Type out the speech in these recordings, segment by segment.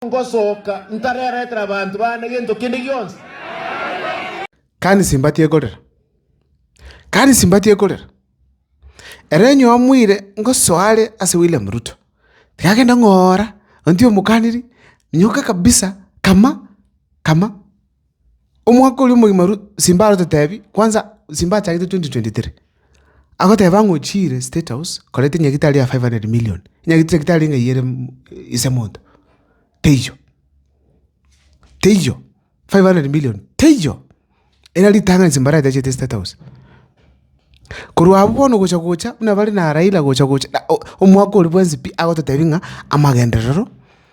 ngosoka ntareretera abanto bane gento kende gionsi. Kandi simbati ekorera, kandi simbati ekorera. Ere onye omoire ngosoa are ase William Ruto, tigagende ng'ora onti omokaniri, nyoka kabisa, kama, kama. Omwaka oria omogima Ru- Simba arototebi, kwanza Simba achagete 2023, agoteba ng'a ochiire State House koreta enyagitari ya 500 million, enyagita- chagitari ng'a eyio ere mm- ise monto. Teiyo, teiyo, 500 million teiyo, era ritang'ani Simba aratechete State House. Korwa abwo bono gocha gocha buna bare na Raila gocha gocha na o- omwaka oria bwensi pi agototebi ng'a amagenderero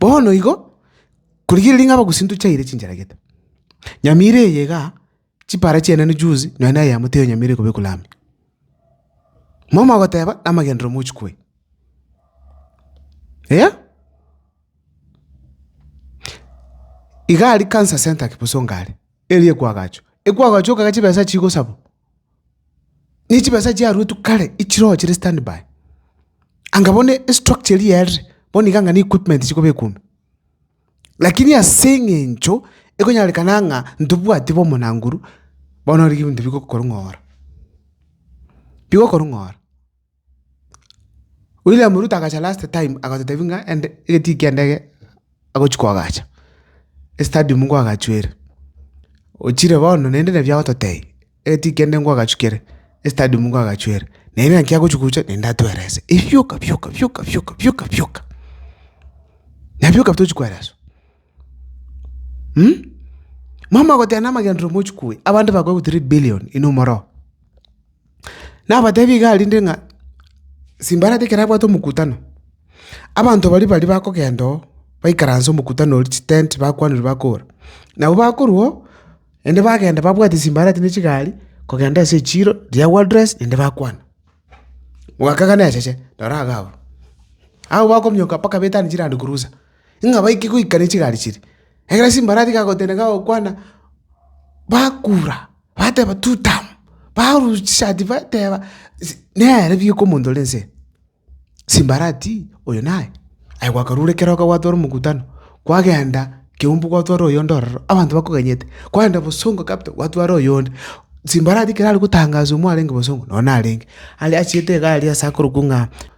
Bono igo, korigereria ng'a abagusii ntochaire chinchera gete. Nyamira eye igaa, chipara chiane ne juzi, nonya na eyemo teiyo nyamira ekobekwa lami. Momo agoteba, amagenderero mochikwa aya. Eeh? Iga aria Cancer Centre Kipsongo are, erio ekwaagacho. Ekwaagacho okagera chibesa chigosabwa. ne chibesa chiaruetwe kare echirogo chire stand by. Anga bono estructure eria yaerire, bono iga anga neequipment chikobekwa ime. Lakini ase eng'encho ekonyarekana ng'a ntobwati bo omonanguru, bono riria ebinto bigokorong'ora, bigokorong'ora. William Ruto agacha last time agototebi ng'a ende egetii ki'endege agochia koagacha, estadium nkoagachwere. Ochire bono naende nabio agototebia, egetii ki'endege nkoagachwa kere, estadium nkoagachwere. Naende naki agochia gocha naende atwerese, ebioka bioka bioka bioka bioka bioka, nabioka tochi koereswa. Mwamoa goteba namagenderero mochikue, abanto bakorokwa three billion inwe omoroo. Nabatebi igaa rinde ng'a simbarati ekero abwate omokutano, abanto baria baria bakogenda oo baikaranse omokutano oria chitent bakwanire bakobora. Nabo bakorwa oo, naende bagenda babwate simbarati ne chigari kogenda ase echiro riria wardress naende bakwana. Mwaka gane echeche, noro iga abwo. Abwo bakominyoka mpaka betanie chiland cruiser. ng'a baike goikania chigari chiria, ekiagera chimbarati chigagotenena gokwana, bakura, bateba tutam, barusia chishati bateba nere pi oko omonto ore nse, chimbarati oyo naye. Aye gwakarure ekero okogwatore omokutano, kwagenda kiambu kwatwara oyonde ororo, abanto bakoganyete, kwagenda bosongo capital kwatwara oyonde, chimbarati ekero aria gotangaswa mwarenge bosongo, nonye narenge, aria achiete egari ase akorokwa ng'a.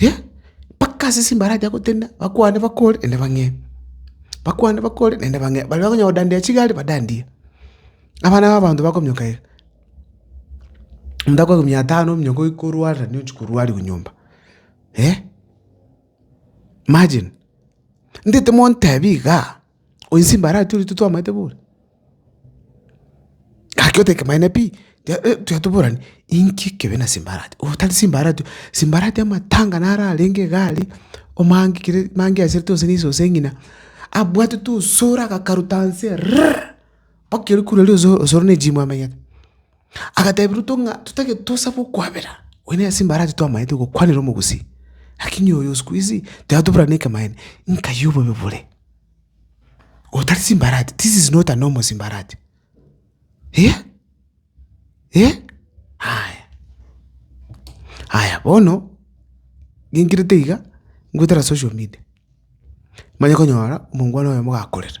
eh, mpaka ase ase embaracha gotenena, bakwane bakore naende bang'ee, bakwane bakore naende bang'ee. Baria bakonya godandia chigari badandie, abana ba abanto bakominyoka iga, omonto akoegwa mia tano ominyoka oyi korwarire naende ochia korwariwa nyomba eh. Imagine, ndete montebi igaa. Onye simbara aye tiri titwamaete bori. Gaki otake maene pi, tuya toborane inki ekebe na simbara aye. Otari simbara aye, simbara aye amatanga naro arenge iga aria, omange kere mange aserete gose nise gose ng'ina, abwatete osoro agakaruta nse rrrrr, mpaka ekero kure riria osoro na ejimu amenyete. Agatebia Ruto ng'a totagete tosabe okwabera, oyo nere simbara ache twamaete gokwanera omogusii, lakini oyo siku hizi tiratobora na ekemanyererio, nkayi obobe bore. Oyo tari simbarati, this is not a normal simbarati. Eeh! Eeh! Aya, aya bono, ngenkerete iga, ngotera social media, manye konyora omongwana oyomo gakorera.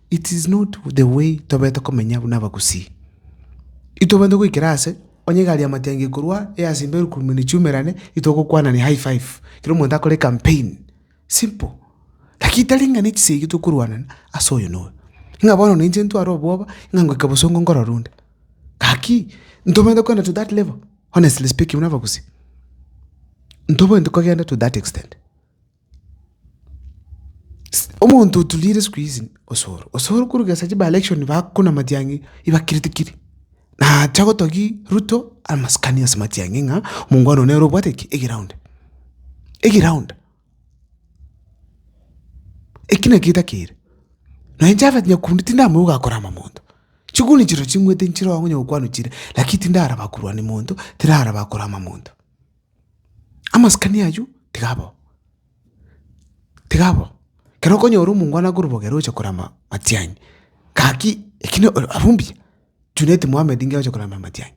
It is not the way tobete komenya buna abagusii. Itobete goikera ase onye egari yamatiangi ekorwa eyase imbe erukurume nechiumerane itogokwanania high five kera omonto akore campaign simple lakini tari ng'a nechisegi iga tokorwanana ase oyo na oyo ng'a bono na inche ntware obwoba ng'a ngoika bosongo nkorora onde gaki ntobwenerete kogenda to that level honestly speaking buna abagusii ntobwenerete kogenda to that extent. Omonto oturire siku hizi osoro, osoro koruga ase chiba election bakonamatia ng'a ibakireti kiri, nacha gotogia Ruto amasikani ase matiang'i ng'a omongwana oo nere obwate ki? Egeround, egeround. Eki naki etakere, na inche Alfred Nyakundi tindamanya ogakora amo monto, chiguni chirochio ching'wete nchiroo onye okwanwa chire lakini tindaraba korwa ni monto, tindaraba korama monto. Amasikani aywo tiga abao, tiga abao. Ekero okonyora omongwana akorobogera oche korama matiang'i, gaki eki na abwo mbuya, Junet Mohammed ng'a oche korama matiang'i.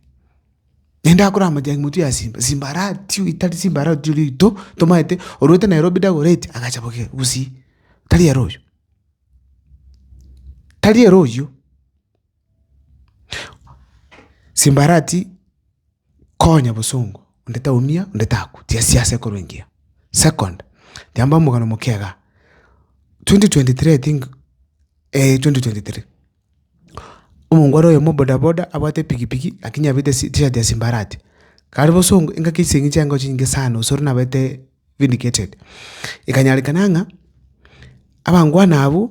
Naende akorama matiang'i motwe ya simba, simba aratio etari simba aratio rito tomaete orwete Nairobi Dagoretti agacha boigo gusii, tari ere oywo, tari ere oywo. Simba aratii. Konya bosongo, onde taumia, onde takwa, tiga siasa ekorwe engiya. Second, tiamba omogano omoke igaa, 2023 I think, eh 2023, omongo are oyomo bodaboda abwate epigipigi lakini abete si- tishati ya simbarati, kare bosongo engaki ase eng'encho yankoroche nyinge sana gose ore nabete vindicated. Ekanyarekana ng'a abangwana abwo.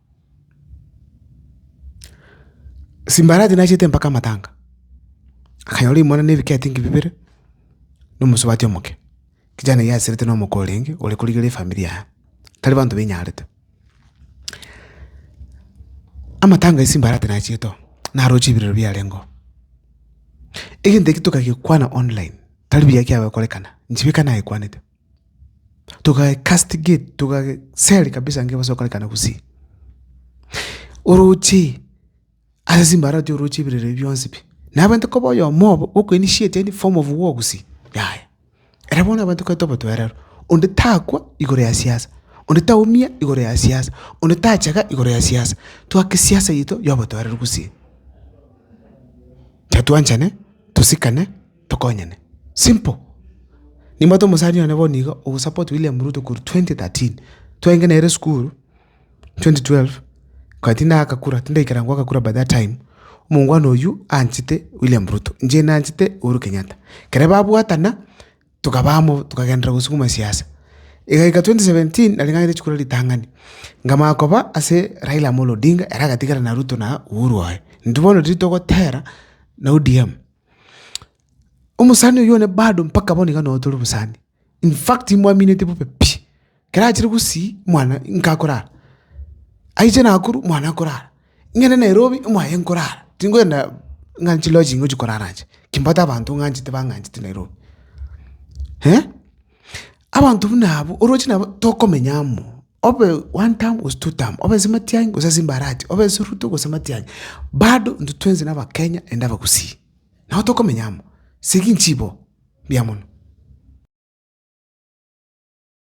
Simbarati nachete mpaka amatanga, akanyora rimwana na ebiketi inki bibere, na omosubati omoke. Kijana oyio aserete na omoko orenge ore korigereria efamiri yaye, tari banto bainyarete. Amatanga ya Simbarati nachete oo, naroche ebirero biarenga oo. Egento ekio tokagekwana online, tari buya kiagokorekana, inche bika nagekwanete. togacastigate togaseri kabisa nge ebase gokorekana gusii. Oroche ase chimbaare oroche oroche ebirero ebi bionsi pi, na abanto koba oyomo obo ogo initiate any form of war gusii yaya. Ere bono abanto koreta obotoereru, onde takwa igoro ya siasa, onde taumia igoro ya siasa, onde tachega igoro ya siasa, twake siasa yaito ya obotoereru gusii. Totwanchane, tosikane. Tokonyane. Simple. Nimbwate omosani one bono iga ogosupport William Ruto korwa twenty thirteen. Twaenge nere esukuru, twenty twelve, kare tindagakakura, tindaikera ngoakakura by that time, omongwana oywo anchete William Ruto, inche nanchete Uhuru Kenyatta. Ekero babwatana, tokaba amo tokagenderera gosukuma siasa. Egaika twenty seventeen, nare ng'anyete chikura ritang'ani, nkamanya koba ase Raila Amolo Odinga, ere agatigara na Ruto na Uhuru oye. Intwe bono riria togotera na ODM, Omosani oyio one bado mpaka bono iga noyotora obosani. In fact imwamineti bobe pi. Ekero achire gosii mwana nka akorara. Aiche Nakuru mwana akorara. Ng'ende Nairobi mwaye nkorara. Tingoenda ng'a nchi lodging gochia korara inche. Kimbwate abanto ng'anchete bang'anchete Nairobi. Eh? Abanto buna abwo oroche nabo tokomenya amo, obe one term gose two term, obe ase matiang'i gose ase mbarati, obe ase ruto gose matiang'i, bado intwe twensi na abakenya naende abagusii. Nabo tokomenya amo, segi nchibo, mbuya mono.